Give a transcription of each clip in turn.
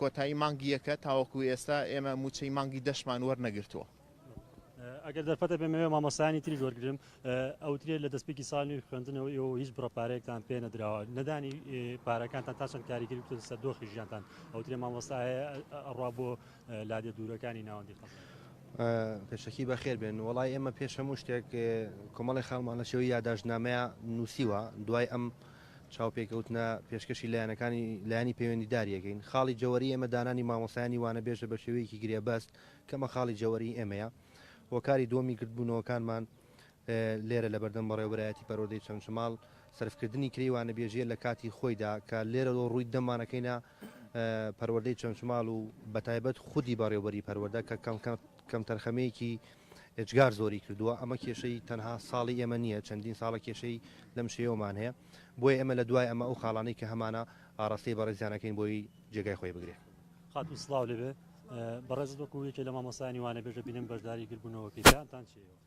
کۆتایی مانگی یەکە تاوەکو ئێستا ئێمە مووچەی مانگی دەشمان وەرنەگرتووە. ئەگەر دەرفەتە بێ مەوێ مامۆستایانی تریش وەرگرم ئەوترێ لە دەستپێکی ساڵ نوێ خوێندنەوە ئێوە هیچ بڕە پارەیەکتان پێ نەدراوە نەدانی پارەکانتان تا چەند کاریگەری بتن سەر دۆخی ژیانتان ئەوترێ مامۆستایە ئەڕوا بۆ لادێ دوورەکانی ناوەندی خەڵ پێشەکی بەخێر بێن وڵی ئێمە پێش هەموو شتێک کۆمەڵی خاڵمان لە شێوەی یاداشتنامەیە نووسیوە دوای ئەم چاوپێکەوتنە پێشکەشی لایەنەکانی لایەنی پەیوەندیدار یەکەین، خاڵی جەوەری ئێمە دانانی مامۆستایانی وانەبێژە بە شێوەیەکی گرێبەست کە ئەمە خاڵی جەوەری ئێمەیە. هۆکاری دووەمی گردبوونەوەکانمان لێرە لە بەردەم بەڕێوەبەرایەتی پەروەردەی چەمچەماڵ سەرفکردنی کرێی وانەبێژییە لە کاتی خۆیدا کە لێرەوە ڕووی دەمانەکەینە پەروەردەی چەمچماڵ و بەتایبەت خودی بەڕێوبەری پەروەردە کە کەمتەرخەمییەکی ئێجگار زۆری کردووە، ئەمە کێشەی تەنها ساڵی ئێمە نییە، چەندین ساڵە کێشەی لەم شێوەمان هەیە، بۆیە ئێمە لە دوای ئەمە ئەو خاڵانەی کە هەمانە ئاڕاستەی بەڕێزیان ئەکەین بۆی جێگای خۆی بگرێ. خاتوو سڵاو لێبێ، بەڕێزت وەکو یەکێ لە مامۆستایانی وانەبێژە بینیم بەشداری گربوونەوەکەی، پێیانتان چییە؟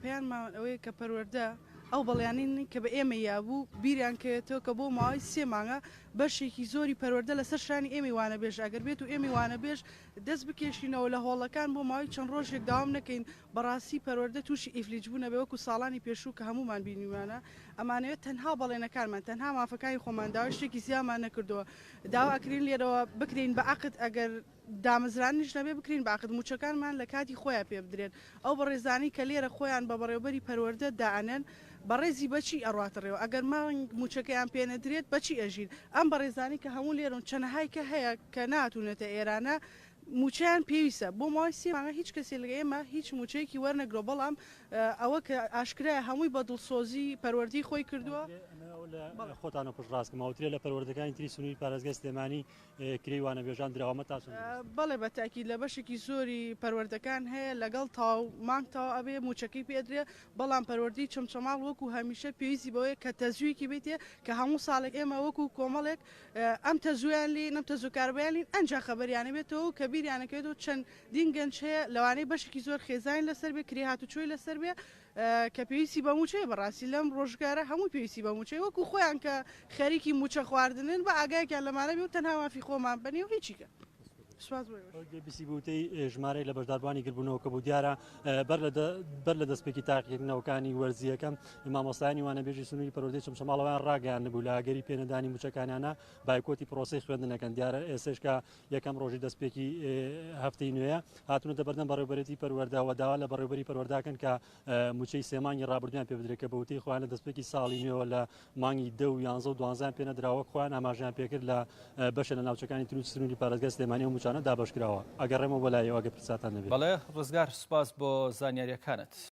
پەیاممان ئەوەیە کە پەروەردە ئەو بەڵێنەی کە بە ئێمەی یابوو بیریان کەوێتەوە کە بۆ ماوەی سێ مانگە بەشێکی زۆری پەروەردە لەسەر شانی ئێمەی وانەبێژ ئەگەر بێت و ئێمەی وانەبێژ دەست بکێشینەوە لە هۆڵەکان بۆ ماوەی چەند ڕۆژێک داوام نەکەین بەڕاستی پەروەردە تووشی ئیفلیج بوونە بێ وەکو ساڵانی پێشوو کە هەموومان بینیمانە ئەمانەوێت تەنها بەڵێنەکانمان تەنها مافەکانی خۆمان داوای شتێکی زیامان نەکردووە داوا ئەکرین لێرەوە بکرێین بە عەقد ئەگەر دامەزرانیش نەبێ بکرین باقت مووچەکانمان لە کاتی خۆیان پێ بدرێن ئەو بەڕێزانەی کە لێرە خۆیان بە بەڕێوبەری پەروەردە دائەنێن بەڕێزی بەچی ئەڕواتە ڕێوە ئەگەر مانگ مووچەکەیان پێ نەدرێت بەچی ئەژین ئەم بەڕێزانەی کە هەموو لێرەن چەنەهای کە هەیە کە نەهاتوونەتە ئێرانە مووچەیان پێویستە بۆ ماوەی سێ مانگە هیچ کەسێ لە ئێمە هیچ مووچەیەکی وەرنەگرەوە بەڵام ئەوە کە ئاشکرایە هەمووی بە دڵسۆزی پەروەردەی خۆی کردووە. ئەمە لە خۆتانە پشتڕاست کەم ئەوترێ لە پەروەردەکانی تری سنووری پارێزگای سلێمانی کرێی وانەبێژان دراوە مەتاسن دروستە؟ بەڵێ بە تاکید لە بەشێکی زۆری پەروەردەکان هەیە لەگەڵ تەواو مانگ تەواو ئەبێ مووچەکەی پێ ئەدرێ بەڵام پەروەردەی چەمچەماڵ وەکو هەمیشە پێویستی بەوەیە کە تەزوویەکی بێتێ کە هەموو ساڵێک ئێمە وەکو کۆمەڵێک ئەم تەزوویان لێین ئەم تەزووکاربەیان لێین ئەنجا خەبەریانە بێتەوە و کە بیریانەکەوێتەوە چەندین گەنج هەیە لەوانەیە بەشێکی زۆر خێزانی لەسەر بێ کرێ هاتوچۆی لەسەر بێ کە پێویستی بە مووچەیە، بەڕاستی لەم ڕۆژگارە هەمووی پێویستی بە مووچەیە، وەکو خۆیان کە خەریکی مووچە خواردنن با ئاگایەکیان لەمانە بێ و تەنها مافی خۆمان بەنێ و هیچیکە. سوپاس بۆ ئێوەش. گوێ بیسی بوو وتەی ژمارەیەک لە بەشداربووانی گردبوونەوە کە بوو دیارە بەر لە دەستپێکی تاقیکردنەوەکانی وەرزییەکە مامۆستایانی وانەبێژی سنووری پەروەردەی چەمچەماڵەوەیان ڕاگەیاندبوو لە ئەگەری پێنەدانی مووچەکانیانە بایکۆتی پرۆسەی خوێندنەکەن دیارە ئێستێشکە یەکەم ڕۆژی دەستپێکی هەفتەی نوێ هاتونەتە بەردەم بەڕێوبەرێتی پەروەەردە و داوا لە بەڕێوبەری پەروەەرداکەن کە موچەی سێمانگی ڕابردویان پێ بدرێت کە بەوتەی خۆیان لە دەستپێکی ساڵی نوێەوە لە مانگی دە و یانزە و دوانزان پێ نەدراوە خۆیان ئاماژیان پێکرد لە بەشە لە ناوچەکانی تروت سنووری پارێزگا سلێمانی و موچانە دابەشکراوە ئەگەڕێمە بەلایەوە ئەگە پرساتان نەبێت. بەڵێ ڕزگار سوپاس بۆ زانیاریەکانت.